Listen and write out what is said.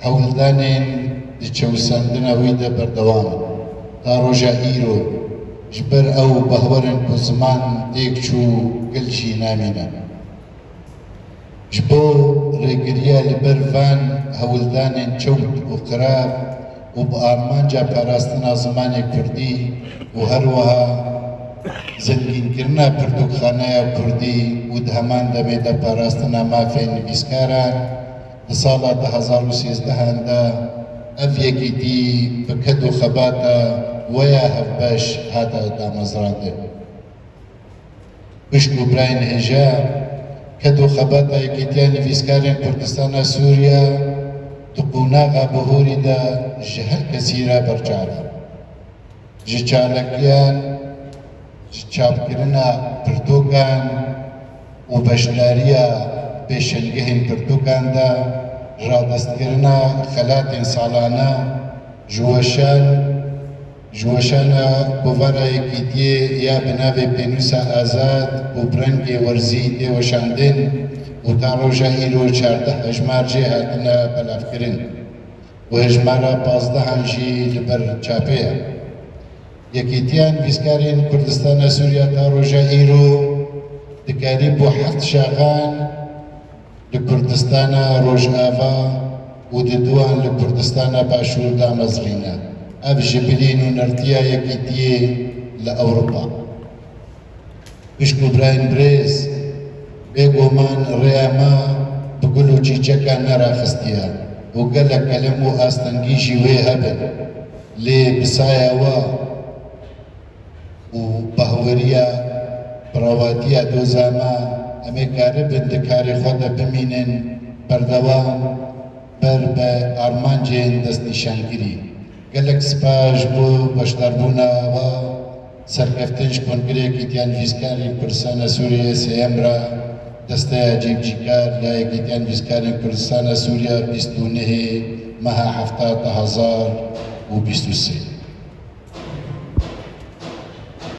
Hewldanên di çewisandina wî de berdewam in. Ta roja îro ji ber ew behwer in ku ziman têk çû gel jî namîne. Ji bo rêgiriya li ber van hewldanên çewt û qirav û bi armanca parastina zimanê kurdî û her wiha zengînkirina pirtûkxaneya kurdî û di heman demê de parastina mafên nivîskaran, Di sala du hezar û sîzdeh de ev yekîtî bi ked û xebata we ya hevbeş hate damezrandin. Xwîşk û birayên hêja ked û xebata Yekîtiya Nivîskarên Kurdistana Sûriye di qonaxa bihûrî de ji her kesî re berçav e. Ji çalakiyan, ji çapkirina pirtûkan û beşdariya pêşengehên pirtûkan de, radestkirina xelatên salane, ji weşan, ji weşana Kovara Yekîtiyê ya bi navê Pênûsa Azad û bi rengê werzî tê weşandin û ta roja îro çardeh hejmar jê hatine belavkirin. Hejmara pazdehan jî li ber çapê ye. Yekîtiya Nivîskarên Kurdistana Sûriya ta roja îro di karîbo heft şaxan li Kurdistana Rojava û di duan li Kurdistana Başûr damezrîne. Ev ji bilîn û nirtiya Yekîtiyê li Ewropa. piştgûbrayên birêz, bêguman rêya me bi gul û çîçekan neraxistiye û gelek kelem û astengî jî wê hebin, lê bi saya we û bahweriya bi rewatiya doza me em ê karibin di karê xwe de bimînin berdewam ber bi armancên destnîşankirî. Gelek spas ji bo beşdarbûna we. Serkeftên ji Kongreya Kîtiyan Vîzkarên Kurdistana Sûriyeyê sêyem re desteya cîbicîkar ya Yekîtiyan Vîzkarên Kurdistana Sûriya bîst û nehê meha hefta du hezar û bîst û sê.